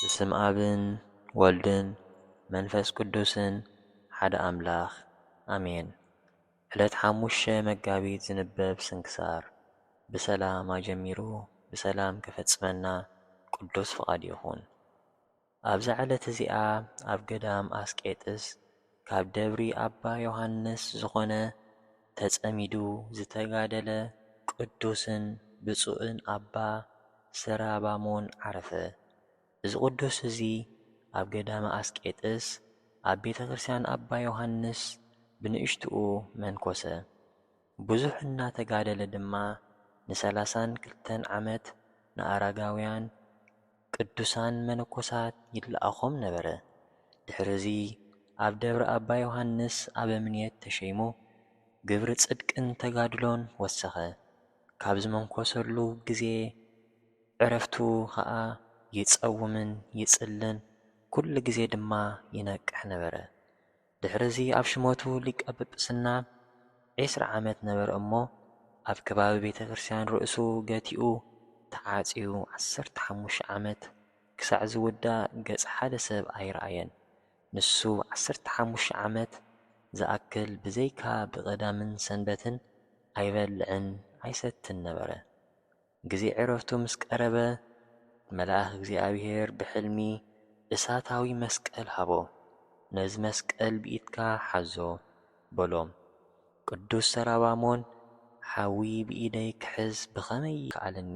ብስም ኣብን ወልድን መንፈስ ቅዱስን ሓደ ኣምላክ ኣሜን ዕለት ሓሙሽተ መጋቢት ዝንበብ ስንክሳር ብሰላም ኣጀሚሩ ብሰላም ከፈጽመና ቅዱስ ፍቃድ ይኩን ኣብዛ ዕለት እዚኣ ኣብ ገዳም ኣስቄጥስ ካብ ደብሪ ኣባ ዮሓንስ ዝኾነ ተጸሚዱ ዝተጋደለ ቅዱስን ብጹእን ኣባ ስራባሞን ዓረፈ። እዚ ቅዱስ እዚ ኣብ ገዳመ ኣስቄጥስ ኣብ ቤተ ክርስቲያን ኣባ ዮሓንስ ብንእሽትኡ መንኰሰ። ብዙሕ እናተጋደለ ድማ ንሰላሳን ክልተን ዓመት ንኣረጋውያን ቅዱሳን መነኮሳት ይለኣኾም ነበረ። ድሕሪ እዚ ኣብ ደብረ ኣባ ዮሓንስ ኣበምኔት ተሸይሙ ግብሪ ጽድቅን ተጋድሎን ወሰኸ። ካብ ዝመንኮሰሉ ግዜ ዕረፍቱ ኸኣ ይጸውምን ይጽልን፣ ኩሉ ግዜ ድማ ይነቅሕ ነበረ። ድሕርዚ ኣብ ሽመቱ ሊቀ ጵጵስና ዒስራ ዓመት ነበረ እሞ ኣብ ከባቢ ቤተ ክርስቲያን ርእሱ ገቲኡ ተዓጽዩ ዓሰርተ ሓሙሽተ ዓመት ክሳዕ ዝውዳእ ገጽ ሓደ ሰብ ኣይረኣየን ንሱ ዓሰርተ ሓሙሽተ ዓመት ዝኣክል ብዘይካ ብቀዳምን ሰንበትን ኣይበልዕን ኣይሰትን ነበረ ግዜ ዕረፍቱ ምስ ቀረበ፣ መልኣኽ እግዚኣብሄር ብሕልሚ እሳታዊ መስቀል ሃቦ። ነዚ መስቀል ብኢድካ ሓዞ፣ በሎ። ቅዱስ ሰራባሞን፣ ሓዊ ብኢደይ ክሕዝ ብኸመይ ይከኣለኒ?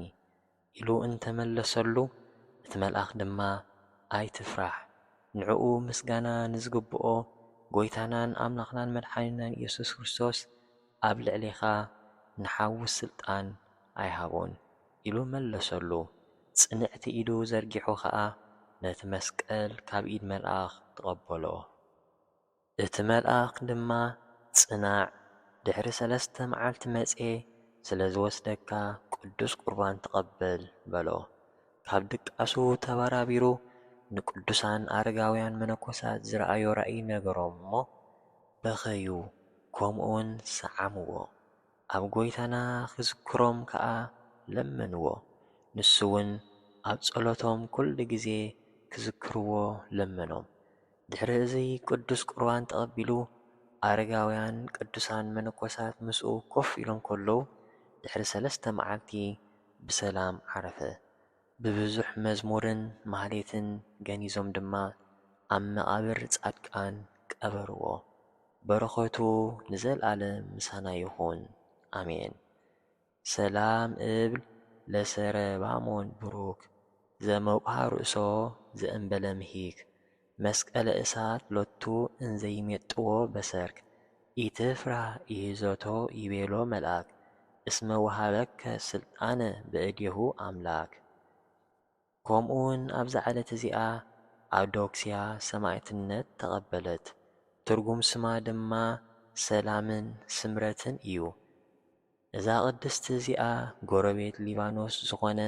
ኢሉ እንተ መለሰሉ፣ እቲ መልኣኽ ድማ፣ ኣይትፍራሕ፣ ንዕኡ ምስጋና ንዝግብኦ ጐይታናን ኣምላኽናን መድሓኒናን ኢየሱስ ክርስቶስ፣ ኣብ ልዕሌኻ ንሓዊ ስልጣን ኣይሃቦን ኢሉ መለሰሉ። ጽንዕቲ ኢዱ ዘርጊሑ ኸኣ ነቲ መስቀል ካብ ኢድ መልኣኽ ተቐበሎ። እቲ መልኣኽ ድማ ጽናዕ ድሕሪ ሰለስተ መዓልቲ መጼ ስለ ዝወስደካ ቅዱስ ቁርባን ተቐበል በሎ። ካብ ድቃሱ ተበራቢሩ ንቅዱሳን ኣረጋውያን መነኮሳት ዝረኣዮ ራእይ ነገሮም እሞ በኸዩ ከምኡውን ሰዓምዎ፣ ኣብ ጐይታና ኺዝክሮም ከኣ ለመንዎ። ንሱውን ኣብ ጸሎቶም ኵሉ ጊዜ ኪዝክርዎ ለመኖም። ድሕሪ እዚ ቅዱስ ቍርባን ተቐቢሉ፣ ኣረጋውያንን ቅዱሳን መነኮሳትን ምስኡ ኮፍ ኢሎም ከለዉ፣ ድሕሪ ሰለስተ መዓልቲ ብሰላም ዓረፈ። ብብዙሕ መዝሙርን ማህሌትን ገኒዞም ድማ ኣብ መቓብር ጻድቃን ቀበርዎ። በረኸቱ ንዘልኣለም ምሳና ይኹን ኣሜን። ሰላም እብል ለሰረባሞን ብሩክ ዘመውቅሃ ርእሶ ዘእምበለምሂክ መስቀለ እሳት ሎቱ እንዘ ይሜጥዎ በሰርክ። ኢትፍራህ ኢህዞቶ ይቤሎ መልኣክ። እስመ ወሀበከ ሥልጣነ በእዴሁ ኣምላክ። ከምኡውን ኣብዛ ዕለት እዚኣ ኣውዶክስያ ሰማእትነት ተቐበለት። ትርጉም ስማ ድማ ሰላምን ስምረትን እዩ። እዛ ቅድስቲ እዚኣ ጎረቤት ሊባኖስ ዝኾነ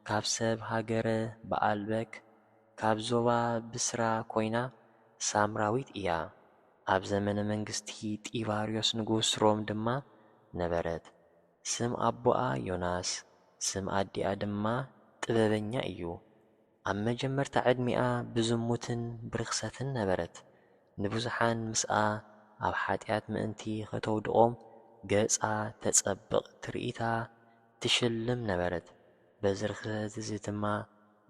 ካብ ሰብ ሃገረ በኣልበክ ካብ ዞባ ብስራ ኮይና ሳምራዊት እያ። ኣብ ዘመነ መንግስቲ ጢባርዮስ ንጉስ ሮም ድማ ነበረት። ስም ኣቦኣ ዮናስ ስም ኣዲኣ ድማ ጥበበኛ እዩ። ኣብ መጀመርታ ዕድሚኣ ብዝሙትን ብርኽሰትን ነበረት፣ ንብዙሓን ምስኣ ኣብ ሓጢኣት ምእንቲ ኸተውድቖም ገጻ ተጸብቕ ትርኢታ ትሽልም ነበረት፣ በዚ ርኽሰት እዚ ድማ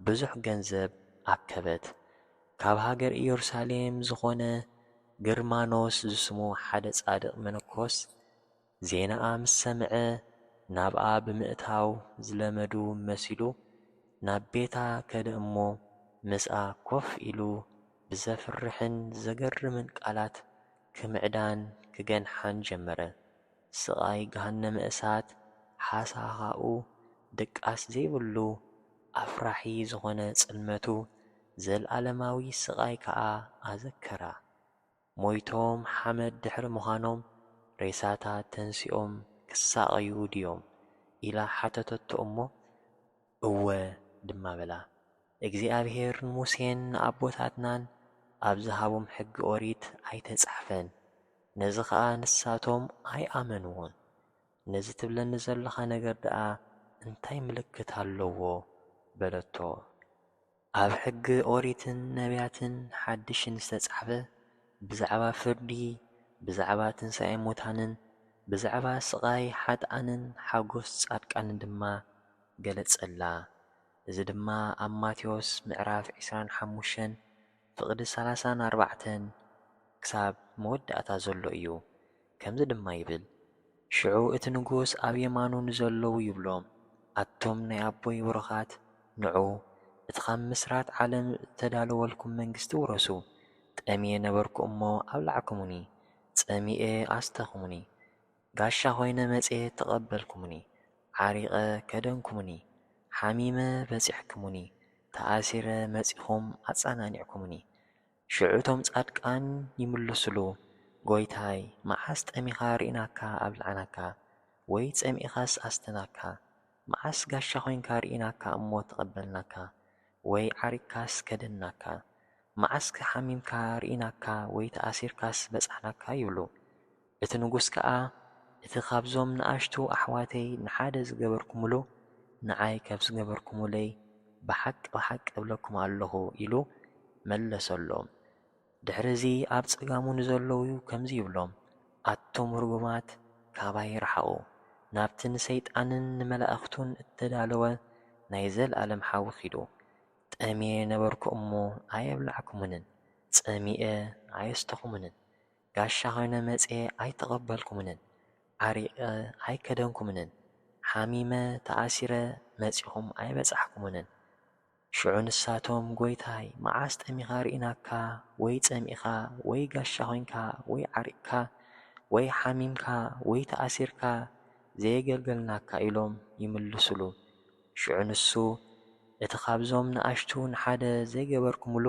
ብዙሕ ገንዘብ ኣከበት። ካብ ሃገር ኢየሩሳሌም ዝኾነ ግርማኖስ ዝስሙ ሓደ ጻድቕ መነኮስ ዜናኣ ምስ ሰምዐ ናብኣ ብምእታው ዝለመዱ መሲሉ ናብ ቤታ ከደ እሞ ምስኣ ኮፍ ኢሉ ብዘፍርሕን ዘገርምን ቃላት ክምዕዳን ክገንሓን ጀመረ። ስቓይ ገሃነመ እሳት ሓሳኻኡ ድቃስ ዘይብሉ ኣፍራሒ ዝኾነ ጽልመቱ ዘልኣለማዊ ስቓይ ከኣ ኣዘከራ። ሞይቶም ሓመድ ድሕሪ ምዃኖም ሬሳታት ተንሲኦም ክሳቐዩ ድዮም? ኢላ ሓተተቶ እሞ፣ እወ ድማ በላ። እግዚኣብሄር ንሙሴን ንኣቦታትናን ኣብ ዝሃቦም ሕጊ ኦሪት ኣይተጻሕፈን፣ ነዚ ኸኣ ንሳቶም ኣይኣመንዎን። ነዚ ትብለኒ ዘሎኻ ነገር ደኣ እንታይ ምልክት ኣለዎ? በለቶ። ኣብ ሕጊ ኦሪትን ነብያትን ሓድሽን ዝተጻሕፈ ብዛዕባ ፍርዲ ብዛዕባ ትንሳኤ ሙታንን ብዛዕባ ስቓይ ሓጥኣንን ሓጎስ ጻድቃንን ድማ ገለጸላ እዚ ድማ ኣብ ማቴዎስ ምዕራፍ ዕስራን ሓሙሽተን ፍቕዲ ሰላሳን ኣርባዕተን ክሳብ መወዳእታ ዘሎ እዩ ከምዚ ድማ ይብል፣ ሽዑ እቲ ንጉስ ኣብ የማኑ ንዘለዉ ይብሎም፣ ኣቱም ናይ ኣቦይ ብሩኻት፣ ንዑ፣ እቲ ኻብ ምስራት ዓለም እተዳለወልኩም መንግስቲ ውረሱ። ጠምየ ነበርኩ እሞ ኣብላዕኩሙኒ፣ ጸሚኤ ኣስተኹሙኒ፣ ጋሻ ዀይነ መጺኤ ተቐበልኩሙኒ፣ ዓሪቐ ከደንኩሙኒ፣ ሓሚመ በጺሕኩሙኒ፣ ተኣሲረ መጺኹም ኣጸናኒዕኩሙኒ። ሽዑ እቶም ጻድቃን ይምልሱሉ፣ ጐይታይ፣ መዓስ ጠሚኻ ርኢናካ ኣብልዓናካ፣ ወይ ጸሚእኻስ ኣስተናካ፣ መዓስ ጋሻ ዄንካ ርኢናካ እሞ ተቐበልናካ፣ ወይ ዓሪቅካስ ከደንናካ፣ መዓስከ ሓሚምካ ርኢናካ ወይ ተኣሲርካስ በጻሕናካ ይብሉ። እቲ ንጉስ ከኣ፣ እቲ ኻብዞም ንኣሽቱ ኣሕዋተይ ንሓደ ዝገበርኩምሉ፣ ንዓይ ከም ዝገበርኩምለይ፣ ብሓቂ ብሓቂ እብለኩም ኣሎኹ፣ ኢሉ መለሰሎም። ድሕርዚ፣ ኣብ ጸጋሙ ንዘለዉ ከምዚ ይብሎም፣ ኣቱም ርጉማት፣ ካባይ ርሓቑ፣ ናብቲ ንሰይጣንን ንመላእኽቱን እተዳለወ ናይ ዘለኣለም ሓዊ ኺዱ። ጠምየ ነበርኩ እሞ ኣየብላዕኩምንን፣ ጸሚኤ ኣየስተኹምንን፣ ጋሻ ኮይነ መጽየ ኣይተቀበልኩምንን ዓሪቀ ኣይከደንኩምንን ሓሚመ ተኣሲረ መጺኹም ኣይበጻሕኩምንን ሽዑ ንሳቶም ጎይታይ መዓስ ጠሚኻ ሪኢናካ ወይ ጸሚእኻ ወይ ጋሻ ኮይንካ ወይ ዓሪቅካ ወይ ሓሚምካ ወይ ተኣሲርካ ዘየገልገልናካ ኢሎም ይምልስሉ ሽዑ ንሱ እቲ ካብዞም ንኣሽቱ ንሓደ ዘይገበርኩምሉ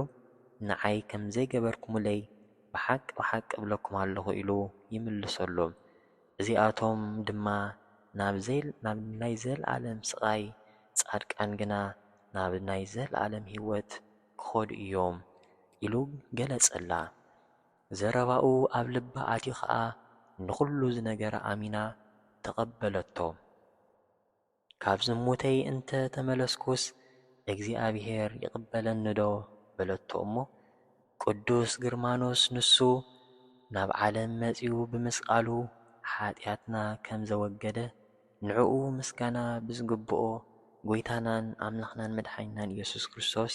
ንዓይ ከምዘይገበርኩምለይ ብሓቂ ብሓቂ እብለኩም ኣለኹ ኢሉ ይምልሰሎም። እዚኣቶም ድማ ናብ ናይ ዘለኣለም ስቓይ፣ ጻድቃን ግና ናብ ናይ ዘለኣለም ህይወት ኪኸዱ እዮም ኢሉ ገለጸላ። ዘረባኡ ኣብ ልባ ኣትዩ ኸኣ ንዅሉ ዝነገራ ኣሚና ተቐበለቶ። ካብ ዝሙተይ እንተ ተመለስኩስ፣ እግዚኣብሄር ይቕበለኒዶ? በለቶ እሞ፣ ቅዱስ ግርማኖስ ንሱ ናብ ዓለም መጺኡ ብምስቃሉ ኃጢኣትና ከም ዘወገደ፣ ንዕኡ ምስጋና ብዝግብኦ ጐይታናን ኣምላኽናን መድሓኒናን ኢየሱስ ክርስቶስ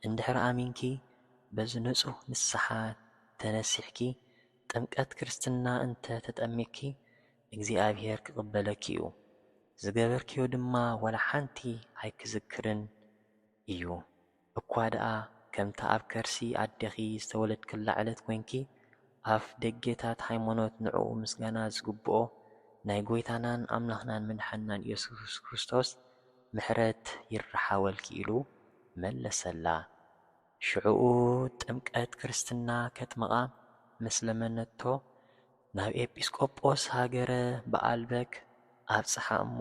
እንድሕር ኣሚንኪ፣ በዚ ንጹሕ ንስሓ ተነሲሕኪ፣ ጥምቀት ክርስትና እንተ ተጠሚቅኪ፣ እግዚኣብሄር ክቕበለኪ'ዩ፣ ዝገበርክዮ ድማ ዋላ ሓንቲ ኣይክዝክርን እዩ፣ እኳ ደኣ ከምታ ኣብ ከርሲ ኣዴኺ ዝተወለድክላ ዕለት ኮይንኪ፣ ኣፍ ደጌታት ሃይማኖት ንዕኡ ምስጋና ዝግብኦ ናይ ጎይታናን ኣምላኽናን መድሓኒናን ኢየሱስ ክርስቶስ ምሕረት ይርሓወልኪ ኢሉ መለሰላ። ሽዕኡ ጥምቀት ክርስትና ከጥምቓ ምስ ለመነቶ፣ ናብ ኤጲስቆጶስ ሃገረ በኣልበክ ኣብጽሓ እሞ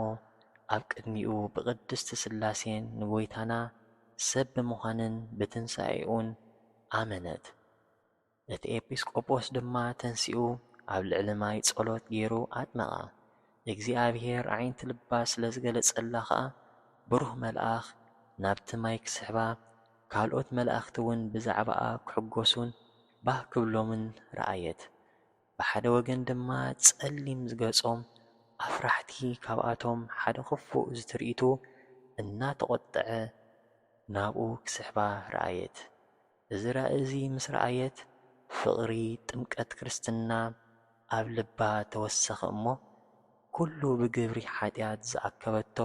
ኣብ ቅድሚኡ ብቅድስት ሥላሴን ንጐይታና ሰብ ብምዃንን ብትንሣኤኡን ኣመነት። እቲ ኤጲስቆጶስ ድማ ተንሲኡ ኣብ ልዕሊ ማይ ጸሎት ገይሩ ኣጥመቓ። እግዚኣብሔር ኣዒንቲ ልባ ስለ ዝገለጸላ ከኣ ብሩህ መልኣኽ ናብቲ ማይ ክስሕባ ካልኦት መላእኽቲውን ብዛዕባኣ ክሕጐሱን ባህ ክብሎምን ረኣየት። ብሓደ ወገን ድማ ጸሊም ገጾም ኣፍራሕቲ ካብኣቶም ሓደ ክፉእ ዝትርኢቱ እናተቖጥዐ ናብኡ ክስሕባ ረኣየት። እዚ ራኢ እዚ ምስ ረኣየት ፍቕሪ ጥምቀት ክርስትና ኣብ ልባ ተወሰኸ እሞ ኩሉ ብግብሪ ሓጢኣት ዝኣከበቶ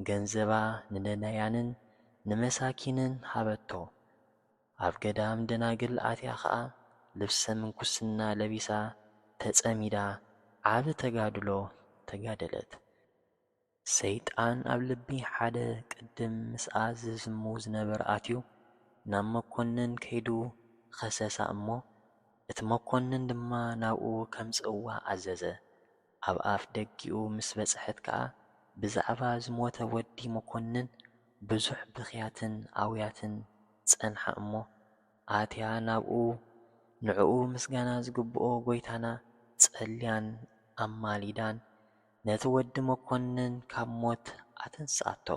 ገንዘባ ንነዳያንን ንመሳኪንን ሃበቶ ኣብ ገዳም ደናግል ኣትያ ከኣ ልብሰ ምንኩስና ለቢሳ ተጸሚዳ ዓቢ ተጋድሎ ተጋደለት። ሰይጣን ኣብ ልቢ ሓደ ቅድም ምስኣ ዝስሙ ዝነበረ ኣትዩ ናብ መኮንን ከይዱ ኸሰሳ እሞ እቲ መኮንን ድማ ናብኡ ከምጽእዋ ኣዘዘ። ኣብ ኣፍ ደጊኡ ምስ በጽሐት ከኣ ብዛዕባ ዝሞተ ወዲ መኰንን ብዙሕ ብኽያትን ኣውያትን ጸንሓ እሞ፣ ኣትያ ናብኡ ንዕኡ ምስጋና ዝግብኦ ጐይታና ጸልያን ኣማሊዳን ነቲ ወዲ መኰንን ካብ ሞት ኣተንስኣቶ።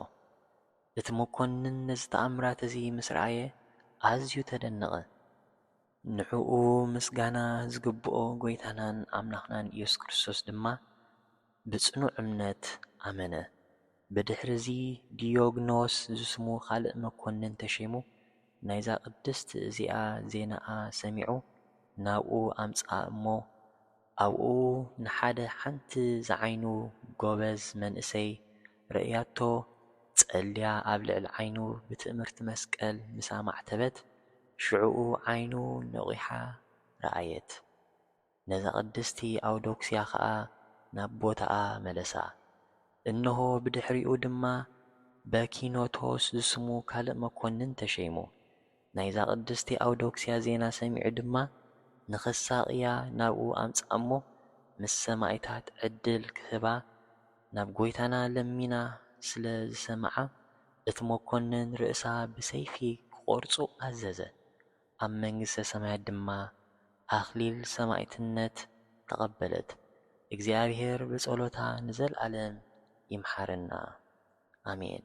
እቲ መኰንን ነዚ ተኣምራት እዚ ምስ ረኣየ ኣዝዩ ተደነቐ። ንዕኡ ምስጋና ዝግብኦ ጐይታናን ኣምላኽናን ኢየሱስ ክርስቶስ ድማ ብጽኑዕ እምነት ኣመነ። ብድሕርዚ ዲዮግኖስ ዝስሙ ኻልእ መኰንን ተሸይሙ፣ ናይዛ ቕድስት እዚኣ ዜናኣ ሰሚዑ ናብኡ ኣምጽኣ እሞ፣ ኣብኡ ንሓደ ሓንቲ ዝዓይኑ ጎበዝ መንእሰይ ርእያቶ ጸልያ ኣብ ልዕሊ ዓይኑ ብትእምርቲ መስቀል ምስ ኣማዕተበት ሽዑኡ ዓይኑ ነቒሓ ረኣየት ነዛ ቅድስቲ ኣውዶክስያ ከኣ ናብ ቦታኣ መለሳ እንሆ ብድሕሪኡ ድማ በኪኖቶስ ዝስሙ ካልእ መኮንን ተሸይሙ ናይዛ ቅድስቲ ኣውዶክስያ ዜና ሰሚዑ ድማ ንኽሳቕያ ናብኡ ኣምጽኣ'ሞ ምስ ሰማኢታት ዕድል ክህባ ናብ ጐይታና ለሚና ስለ ዝሰምዓ እቲ መኰንን ርእሳ ብሰይፊ ክቖርጹ ኣዘዘ። ኣብ መንግስተ ሰማያት ድማ ኣኽሊል ሰማእትነት ተቐበለት። እግዚኣብሔር ብጸሎታ ንዘልኣለም ይምሓረና ኣሜን።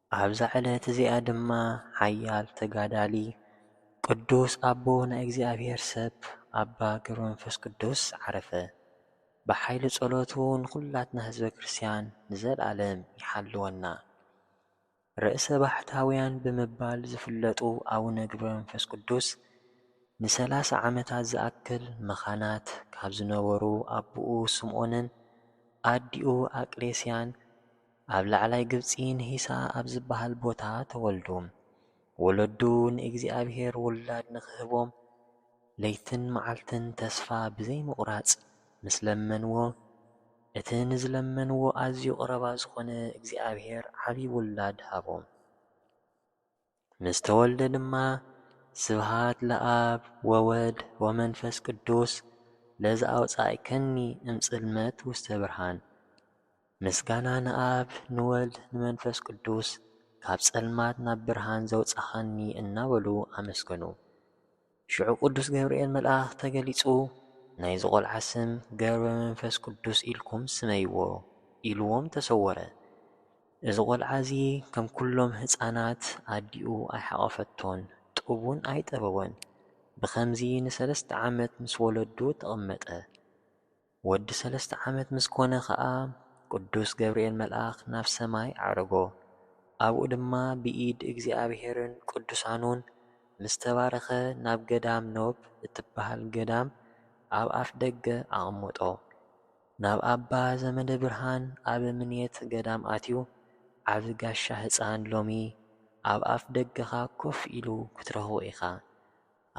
ኣብዛ ዕለት እዚኣ ድማ ሓያል ተጋዳሊ ቅዱስ ኣቦ ናይ እግዚኣብሔር ሰብ ኣባ ገብረመንፈስ ቅዱስ ዓረፈ። ብሓይሊ ጸሎቱ ንኩላትና ህዝበ ክርስቲያን ንዘልኣለም ይሓልወና። ርእሰ ባሕታውያን ብምባል ዝፍለጡ ኣቡነ ገብረመንፈስ ቅዱስ ንሰላሳ ዓመታት ዝኣክል መኻናት ካብ ዝነበሩ ኣቡኡ ስምኦንን ኣዲኡ ኣቅሌስያን ኣብ ላዕላይ ግብጺ ንሂሳ ኣብ ዝበሃል ቦታ ተወልዱ። ወለዱ ንእግዚኣብሄር ውላድ ንኽህቦም ለይትን መዓልትን ተስፋ ብዘይምቑራጽ ምስ ለመንዎ፣ እቲ ንዝለመንዎ ኣዝዩ ቐረባ ዝኾነ እግዚኣብሄር ዓቢ ውላድ ሃቦም። ምስ ተወልደ ድማ ስብሃት ለኣብ ወወድ ወመንፈስ ቅዱስ ለዘኣውጻእከኒ እምጽልመት ውስተ ብርሃን ምስጋና ንኣብ ንወልድ ንመንፈስ ቅዱስ ካብ ጸልማት ናብ ብርሃን ዘውጻኻኒ እናበሉ ኣመስገኑ። ሽዑ ቅዱስ ገብርኤል መልኣኽ ተገሊጹ ናይዚ ቆልዓ ስም ገብረ መንፈስ ቅዱስ ኢልኩም ስመይዎ ኢልዎም ተሰወረ። እዚ ቆልዓ እዚ ከም ኩሎም ህጻናት ኣዲኡ ኣይሓቖፈቶን ጡብ ውን ኣይጠበወን። ብኸምዚ ንሰለስተ ዓመት ምስ ወለዱ ተቐመጠ። ወዲ ሰለስተ ዓመት ምስ ኮነ ኸኣ ቅዱስ ገብርኤል መልኣኽ ናብ ሰማይ ኣዕረጎ። ኣብኡ ድማ ብኢድ እግዚኣብሔርን ቅዱሳኑን ምስ ተባረኸ ናብ ገዳም ኖብ እትበሃል ገዳም ኣብ ኣፍ ደገ ኣቐመጦ። ናብ ኣባ ዘመደ ብርሃን ኣበምኔት ገዳም ኣትዩ ዓቢ ጋሻ ህጻን ሎሚ ኣብ ኣፍ ደገኻ ኮፍ ኢሉ ክትረኽቦ ኢኻ።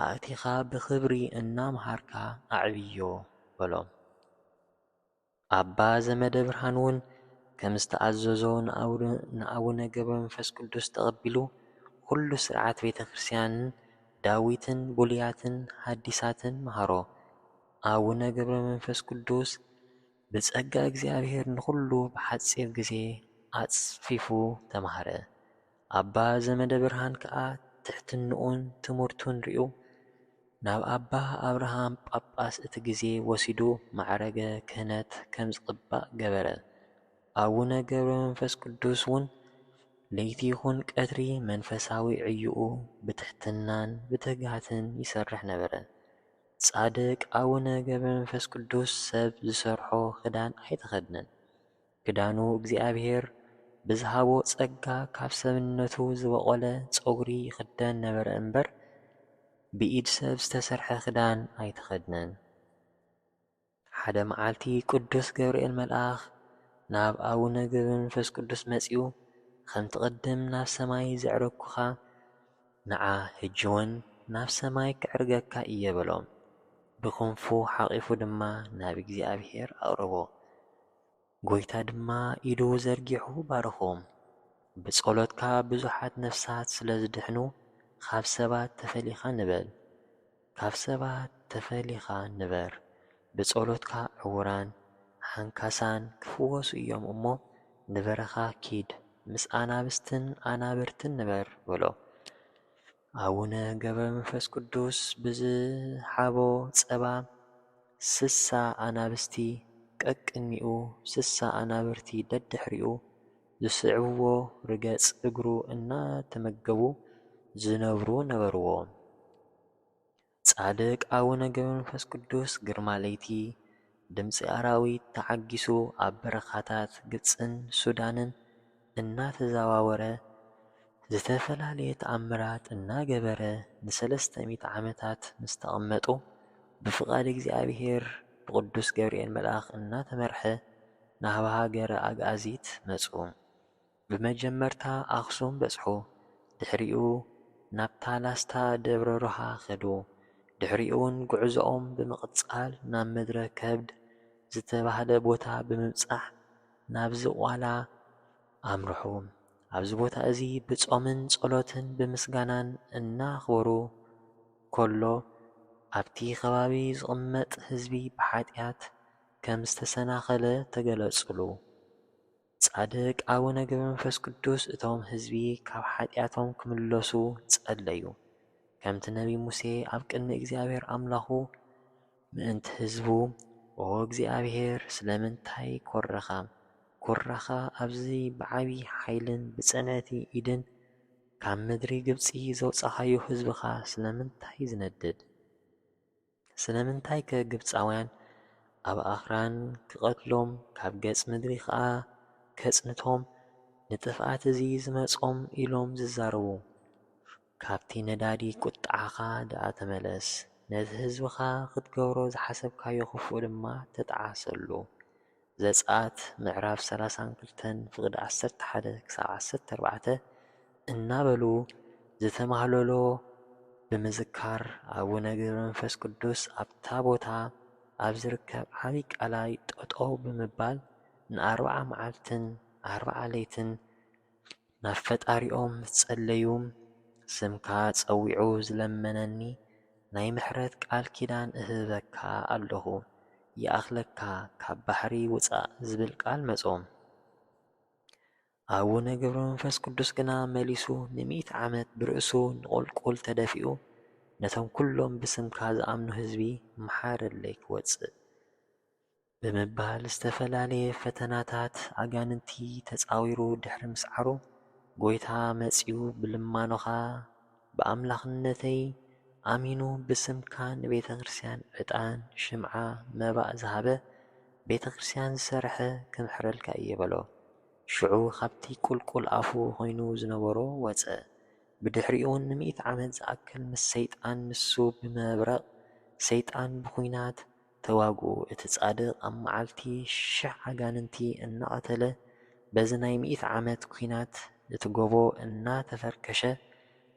ኣእቲኻ ብኽብሪ እናመሃርካ ኣዕብዮ በሎም። ኣባ ዘመደብርሃን'ውን ከም ዝተኣዘዞ ንኣቡነ ገብረመንፈስ ቅዱስ ተቐቢሉ ኵሉ ሥርዓት ቤተ ክርስቲያንን ዳዊትን ብሉያትን ሓዲሳትን መሃሮ። ኣቡነ ገብረመንፈስ ቅዱስ ብጸጋ እግዚኣብሔር ንዅሉ ብሓጺር ግዜ ኣጽፊፉ ተማህረ። ኣባ ዘመደብርሃን ከኣ ትሕትንኡን ትምህርቱን ሪኡ ናብ ኣባ ኣብርሃም ጳጳስ እቲ ግዜ ወሲዱ ማዕረገ ክህነት ከም ዝቅባእ ገበረ። ኣቡነ ገብረመንፈስ ቅዱስ ውን ለይቲ ይኹን ቀትሪ መንፈሳዊ ዕዮኡ ብትሕትናን ብትግሃትን ይሰርሕ ነበረ። ጻድቅ ኣቡነ ገብረመንፈስ ቅዱስ ሰብ ዝሰርሖ ክዳን ኣይተኸድነን። ክዳኑ እግዚኣብሔር ብዝሃቦ ጸጋ ካብ ሰብነቱ ዝበቖለ ጸጉሪ ይኽደን ነበረ እምበር ብኢድ ሰብ ዝተሰርሐ ክዳን ኣይተኸድነን። ሓደ መዓልቲ ቅዱስ ገብርኤል መልኣኽ ናብ ኣቡነ ገብረ መንፈስ ቅዱስ መጺኡ ኸምቲ ቅድም ናብ ሰማይ ዘዕረግኩኻ ንዓ ህጅውን ናብ ሰማይ ከዕርገካ እየ በሎ። ብክንፉ ሓቚፉ ድማ ናብ እግዚኣብሔር ኣቕረቦ። ጐይታ ድማ ኢዱ ዘርጊሑ ባረኾም። ብጸሎትካ ብዙሓት ነፍሳት ስለ ዝድሕኑ ኻብ ሰባት ተፈሊኻ ንበል። ካብ ሰባት ተፈሊኻ ንበር። ብጸሎትካ ዕዉራን ሓንካሳን ክፍወሱ እዮም እሞ ንበረኻ ኪድ ምስ ኣናብስትን ኣናብርትን ንበር በሎ። ኣቡነ ገብረመንፈስ ቅዱስ ብዝሃቦ ጸባ ስሳ ኣናብስቲ ቀቅድሚኡ ስሳ ኣናብርቲ ደድሕሪኡ ዝስዕብዎ ርገጽ እግሩ እናተመገቡ ዝነብሩ ነበርዎ። ጻድቅ ኣቡነ ገብረመንፈስ ቅዱስ ግርማ ለይቲ ድምጺ ኣራዊት ተዓጊሱ ኣብ በረኻታት ግብጽን ሱዳንን እናተዘዋወረ ዝተፈላለየ ተኣምራት እናገበረ ንሰለስተ ሚእቲ ዓመታት ምስ ተቐመጡ ብፍቃድ እግዚኣብሔር ብቅዱስ ገብርኤል መልኣኽ እናተመርሐ ናህብ ሃገረ ኣግኣዚት መጹ። ብመጀመርታ ኣኽሱም በጽሑ፣ ድሕሪኡ ናብታ ላስታ ደብረ ሮሃ ከዱ። ድሕሪኡ'ውን ጉዕዞኦም ብምቕጻል ናብ ምድረ ከብድ ዝተባህለ ቦታ ብምብጻሕ ናብ ዝቋላ ኣምርሑ። ኣብዚ ቦታ እዚ ብጾምን ጸሎትን ብምስጋናን እናኽበሩ ከሎ ኣብቲ ከባቢ ዝቕመጥ ህዝቢ ብሓጢኣት ከም ዝተሰናኸለ ተገለጹሉ። ጻድቅ ኣቡነ ገብረመንፈስ ቅዱስ እቶም ህዝቢ ካብ ሓጢኣቶም ክምለሱ ጸለዩ። ከምቲ ነቢይ ሙሴ ኣብ ቅድሚ እግዚኣብሔር ኣምላኹ ምእንቲ ህዝቡ ኦ እግዚኣብሔር ስለምንታይ ኮርኻ ኩራኻ ኣብዚ ብዓቢ ሓይልን ብጽንዕቲ ኢድን ካብ ምድሪ ግብጺ ዘውጻኻዮ ህዝብኻ ስለምንታይ ዝነድድ ስለምንታይከ ግብጻውያን ኣብ ኣኽራን ክቐትሎም ካብ ገጽ ምድሪ ኸኣ ከጽንቶም ንጥፍኣት እዚ ዝመጾም ኢሎም ዝዛረቡ? ካብቲ ነዳዲ ቍጥዓኻ ደኣ ተመለስ፣ ነቲ ህዝብኻ ኽትገብሮ ዝሓሰብካዮ ኽፉእ ድማ ተጣዓሰሉ። ዘጽኣት ምዕራፍ ሰላሳን ክልተን ፍቕዲ ዓሰርተ ሓደ ክሳብ ዓሰርተ ኣርባዕተ እናበሉ ዝተማህለሎ ብምዝካር ኣቡነ ገብረመንፈስ ቅዱስ ኣብታ ቦታ ኣብ ዝርከብ ዓብዪ ቀላይ ጠጠው ብምባል ንኣርብዓ መዓልትን ኣርብዓ ለይትን ናብ ፈጣሪኦም ምስ ጸለዩ ስምካ ጸዊዑ ዝለመነኒ ናይ ምሕረት ቃል ኪዳን እህበካ ኣለኹ ይኣኽለካ ካብ ባሕሪ ውጻእ ዝብል ቃል መጾም ኣቡነ ገብረመንፈስ ቅዱስ ግና መሊሱ ንሚእቲ ዓመት ብርእሱ ንቁልቁል ተደፊኡ ነቶም ኩሎም ብስምካ ዝኣምኑ ህዝቢ መሓረለይ ክወጽእ ብምባል ዝተፈላለየ ፈተናታት ኣጋንንቲ ተጻዊሩ ድሕሪ ምስዓሩ፣ ጐይታ መጺኡ ብልማኖኻ ብኣምላኽነተይ ኣሚኑ ብስምካ ንቤተ ክርስቲያን ዕጣን፣ ሽምዓ፣ መባእ ዝሃበ፣ ቤተ ክርስቲያን ዝሰርሐ ክምሕረልካ እየ በሎ። ሽዑ ካብቲ ቍልቍል ኣፉ ዀይኑ ዝነበሮ ወጸ። ብድሕሪኡውን ንሚእቲ ዓመት ዝኣክል ምስ ሰይጣን ንሱ ብመብረቕ ሰይጣን ብኲናት፣ ተዋግኡ እቲ ጻድቅ ኣብ መዓልቲ ሽሕ ኣጋንንቲ እናቀተለ በዚ ናይ ሚእቲ ዓመት ኩናት እቲ ጎቦ እናተፈርከሸ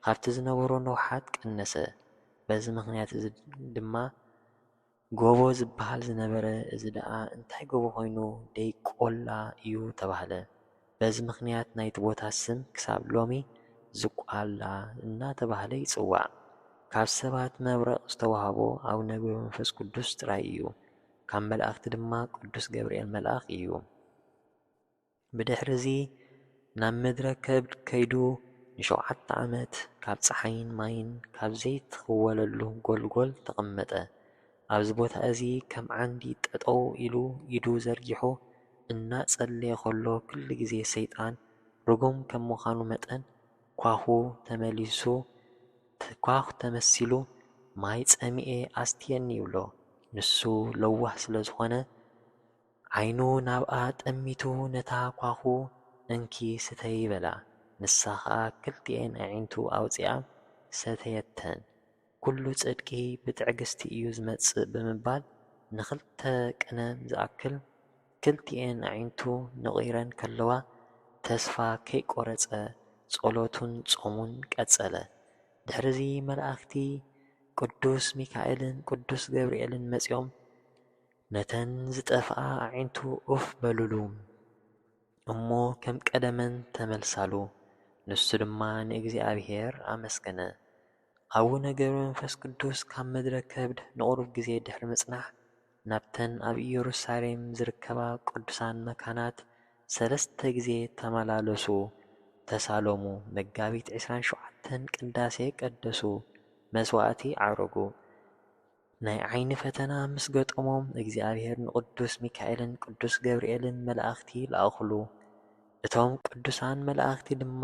ካብቲ ዝነበሮ ንውሓት ቀነሰ በዚ ምክንያት እዚ ድማ ጎቦ ዝብሃል ዝነበረ እዚ ደኣ እንታይ ጎቦ ኮይኑ ደይ ቆላ እዩ ተባህለ። በዚ ምኽንያት ናይቲ ቦታ ስም ክሳብ ሎሚ ዝቋላ እናተባህለ ይጽዋዕ። ካብ ሰባት መብረቕ ዝተዋህቦ ኣቡነ ገብረመንፈስ ቅዱስ ጥራይ እዩ፣ ካብ መላእኽቲ ድማ ቅዱስ ገብርኤል መልኣኽ እዩ። ብድሕርዚ ናብ ምድረ ከብድ ከይዱ ንሸውዓተ ዓመት ካብ ጸሓይን ማይን ካብ ዘይትኽወለሉ ጎልጎል ተቐመጠ። ኣብዚ ቦታ እዚ ከም ዓንዲ ጠጠው ኢሉ ኢዱ ዘርጊሑ እናጸለየ ከሎ ኩሉ ግዜ ሰይጣን ርጉም ከም ምዃኑ መጠን ኳዅ ተመሊሱ ኳዅ ተመሲሉ ማይ ጸሚኤ ኣስትየኒ ይብሎ። ንሱ ለዋህ ስለ ዝኾነ ዓይኑ ናብኣ ጠሚቱ ነታ ኳዅ እንኪ ስተዪ በላ። ንሳ ኸኣ ክልቲኤን ኣዒንቱ ኣውጺኣ ሰተየተን። ኵሉ ጽድቂ ብትዕግስቲ እዩ ዚመጽእ ብምባል ንኽልተ ቅነ ዝኣክል ክልቲኤን ኣዒንቱ ነቝረን ከለዋ ተስፋ ከይቈረጸ ጸሎቱን ጾሙን ቀጸለ። ድሕርዚ መላእኽቲ ቅዱስ ሚካኤልን ቅዱስ ገብርኤልን መጺኦም ነተን ዝጠፍኣ ኣዒንቱ ኡፍ በሉሉ እሞ ከም ቀደመን ተመልሳሉ። ንሱ ድማ ንእግዚኣብሔር ኣመስገነ። ኣቡነ ገብረመንፈስ ቅዱስ ካብ ምድረ ከብድ ንቑሩብ ግዜ ድሕሪ ምጽናሕ ናብተን ኣብ ኢየሩሳሌም ዝርከባ ቅዱሳን መካናት ሰለስተ ግዜ ተመላለሱ፣ ተሳለሙ፣ መጋቢት ዕስራን ሸውዓተን ቅዳሴ ቀደሱ፣ መስዋዕቲ ዓረጉ። ናይ ዓይኒ ፈተና ምስ ገጠሞም እግዚኣብሔር ንቅዱስ ሚካኤልን ቅዱስ ገብርኤልን መላእኽቲ ለኣኹሉ። እቶም ቅዱሳን መላእኽቲ ድማ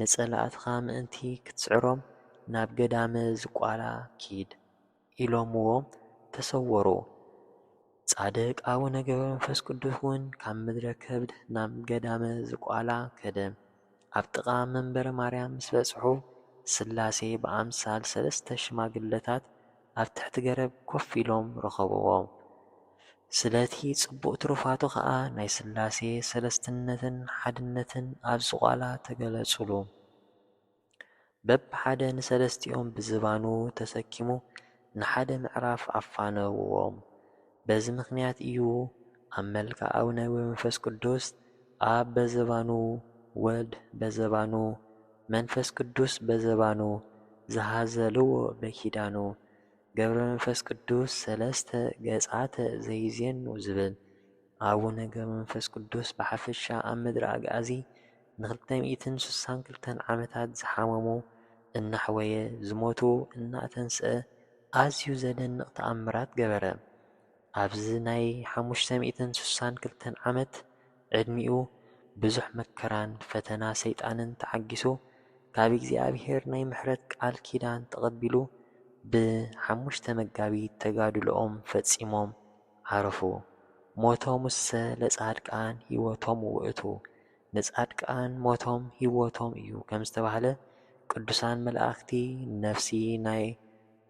ንጸላእትኻ ምእንቲ ክትስዕሮም ናብ ገዳመ ዝቋላ ኪድ ኢሎምዎ ተሰወሩ። ጻድቅ ኣቡነ ገብረመንፈስ ቅዱስ ውን ካብ ምድረ ከብድ ናብ ገዳመ ዝቋላ ከደ። ኣብ ጥቓ መንበረ ማርያም ምስ በጽሑ፣ ስላሴ ብኣምሳል ሰለስተ ሽማግለታት ኣብ ትሕቲ ገረብ ኮፍ ኢሎም ረኸብዎም። ስለቲ ጽቡቕ ትሩፋቱ ከኣ ናይ ስላሴ ሰለስትነትን ሓድነትን ኣብ ዝቋላ ተገለጹሉ። በብሓደ ንሰለስቲኦም ብዝባኑ ተሰኪሙ ንሓደ ምዕራፍ ኣፋነውዎም። በዚ ምኽንያት እዩ ኣብ መልክዕ ኣቡነ ወመንፈስ ቅዱስ ኣብ በዘባኑ፣ ወልድ በዘባኑ፣ መንፈስ ቅዱስ በዘባኑ ዝሃዘልዎ በኪዳኑ ገብረ መንፈስ ቅዱስ ሰለስተ ገጻተ ዘይዜኑ ዝብል። ኣቡነ ገብረ መንፈስ ቅዱስ ብሓፈሻ ኣብ ምድረ ኣግኣዚ፣ ንክልተ ሚእትን ስሳን ክልተን ዓመታት ዝሓመሙ እናሕወየ ዝሞቱ እናኣተንስኣ ኣዝዩ ዘደንቕ ተኣምራት ገበረ። ኣብዚ ናይ ሓሙሽተ ሚእትን ስሳን ክልተን ዓመት ዕድሚኡ ብዙሕ መከራን ፈተና ሰይጣንን ተዓጊሱ ካብ እግዚኣብሔር ናይ ምሕረት ቃል ኪዳን ተቐቢሉ ብ ሓሙሽተ መጋቢት ተጋድሎኦም ፈጺሞም ዓረፉ ሞቶሙሰ ለጻድቃን ሕይወቶሙ ውእቱ። ንጻድቃን ሞቶም ሂወቶም እዩ ከም ዝተባህለ ቅዱሳን መላእክቲ ነፍሲ ናይ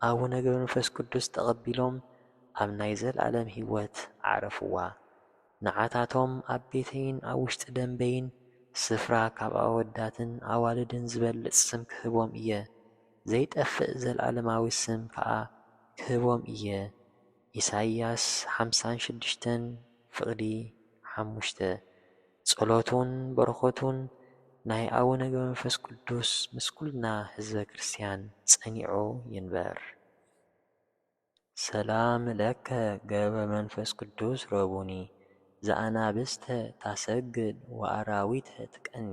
ኣቡነ ገብረመንፈስ ቅዱስ ተቐቢሎም ኣብ ናይ ዘልኣለም ሂወት ኣዕረፍዋ። ንዓታቶም ኣብ ቤተይን ኣብ ውሽጢ ደምበይን ስፍራ ካብ ኣወዳትን ኣዋልድን ዝበልጽ ስም ክህቦም እየ፣ ዘይጠፍእ ዘልኣለማዊ ስም ከኣ ክህቦም እየ። ኢሳይያስ ሓምሳን ሽዱሽተን ፍቕዲ ሓሙሽተ፣ ጸሎቱን በረኸቱን ናይ ኣቡነ ገብረመንፈስ ቅዱስ ምስ ኩልና ህዝበ ክርስቲያን ጸኒዑ ይንበር። ሰላም ለከ ገብረ መንፈስ ቅዱስ ረቡኒ ዘኣናብስተ ታሰግድ ወኣራዊተ ትቀኒ።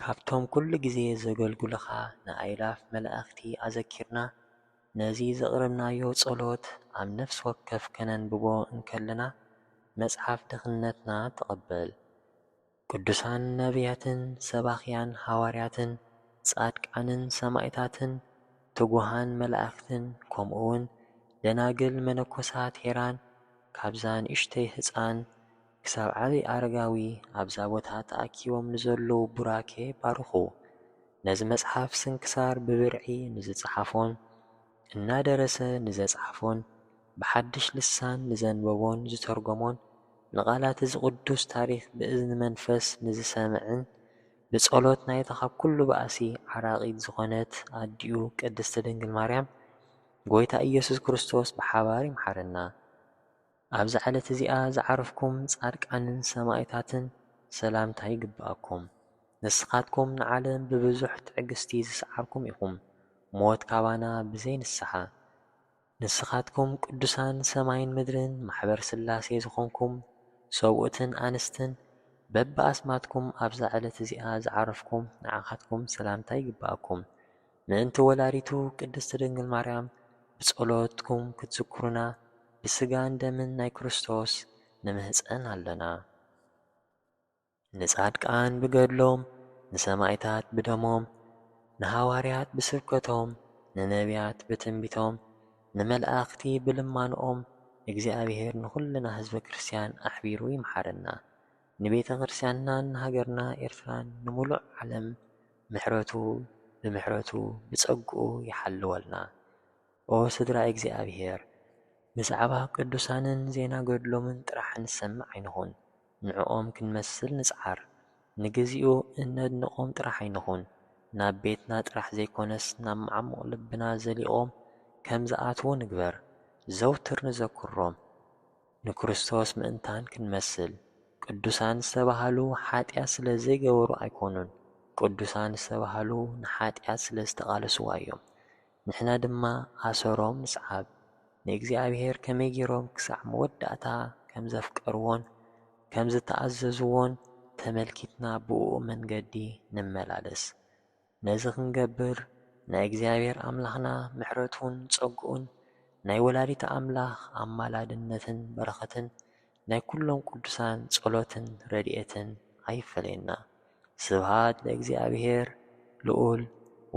ካብቶም ኩሉ ግዜ ዘገልግሉኻ ንኣእላፍ መላእኽቲ ኣዘኪርና፣ ነዚ ዘቕረብናዮ ጸሎት ኣብ ነፍሲ ወከፍ ከነንብቦ እንከለና፣ መጽሓፍ ድኽነትና ትቕበል። ቅዱሳን ነብያትን ሰባኽያን ሃዋርያትን፣ ጻድቃንን ሰማእታትን፣ ትጉሃን መላእኽትን፣ ከምኡውን ደናግል መነኮሳት ሄራን ካብዛ ንእሽተይ ህጻን፣ ክሳብ ዓቢ ኣረጋዊ ኣብዛ ቦታ ተኣኪቦም ንዘለዉ ቡራኬ ባርኹ። ነዚ መጽሓፍ ስንክሳር ብብርዒ ንዝጸሓፎን እናደረሰ ንዘጽሓፎን ብሓድሽ ልሳን ንዘንበቦን ዝተርጎሞን ንቓላት እዚ ቅዱስ ታሪኽ ብእዝኒ መንፈስ ንዝሰምዕን ብጸሎት ናይታ ካብ ኩሉ ባእሲ ዓራቒት ዝኾነት ኣዲኡ ቅድስቲ ድንግል ማርያም ጎይታ ኢየሱስ ክርስቶስ ብሓባር ይምሓረና። ኣብዛ ዕለት እዚኣ ዝዓረፍኩም ጻድቃንን ሰማኢታትን ሰላምታ ይግብኣኩም። ንስኻትኩም ንዓለም ብብዙሕ ትዕግስቲ ዝሰዓርኩም ኢኹም፣ ሞት ካባና ብዘይ ንስሓ። ንስኻትኩም ቅዱሳን ሰማይን ምድርን ማሕበር ሥላሴ ዝኾንኩም ሰብኡትን ኣንስትን በብኣስማትኩም ኣብዛ ዕለት እዚኣ ዝዓረፍኩም ንዓኻትኩም ሰላምታ ይግብኣኩም። ምእንቲ ወላዲቱ ቅድስት ድንግል ማርያም ብጸሎትኩም ክትዝክሩና ብስጋን ደምን ናይ ክርስቶስ ንምህጸን ኣሎና። ንጻድቃን ብገድሎም፣ ንሰማኢታት ብደሞም፣ ንሃዋርያት ብስብከቶም፣ ንነብያት ብትንቢቶም፣ ንመላእክቲ ብልማኖኦም እግዚኣብሔር ንኹልና ህዝበ ክርስቲያን ኣሕቢሩ ይምሓረና። ንቤተክርስቲያንናን ንሃገርና ኤርትራን ንሙሉእ ዓለም ምሕረቱ ብምሕረቱ ብጸግኡ ይሓልወልና ኦ ስድራ እግዚኣብሔር ብዛዕባ ቅዱሳንን ዜና ገድሎምን ጥራሕ ንሰምዕ ኣይንኹን ንዕኦም ክንመስል ንጽዓር ንግዚኡ እነድንቆም ጥራሕ ኣይንኹን ናብ ቤትና ጥራሕ ዘይኮነስ ናብ መዓሙቅ ልብና ዘሊቆም ከምዝኣትዉ ንግበር ዘውትር ንዘክሮም ንክርስቶስ ምእንታን ክንመስል፣ ቅዱሳን ዝተባህሉ ሓጢኣት ስለ ዘይገበሩ ኣይኮኑን፣ ቅዱሳን ዝተባህሉ ንሓጢኣት ስለ ዝተቓለስዋ እዮም። ንሕና ድማ ኣሰሮም ንስዓብ፣ ንእግዚኣብሄር ከመይ ገይሮም ክሳዕ መወዳእታ ከም ዘፍቀርዎን ከም ዝተኣዘዝዎን ተመልኪትና ብእኡ መንገዲ ንመላለስ። ነዚ ክንገብር ናይ እግዚኣብሔር ኣምላኽና ምሕረቱን ጸግኡን ናይ ወላዲተ ኣምላኽ ኣማላድነትን በረኸትን ናይ ኩሎም ቅዱሳን ጸሎትን ረድኤትን ኣይፈለየና። ስብሃት ለእግዚኣብሔር ልኡል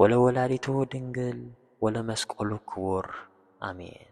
ወለወላዲቱ ድንግል ወለመስቀሉ ክቡር ኣሜን።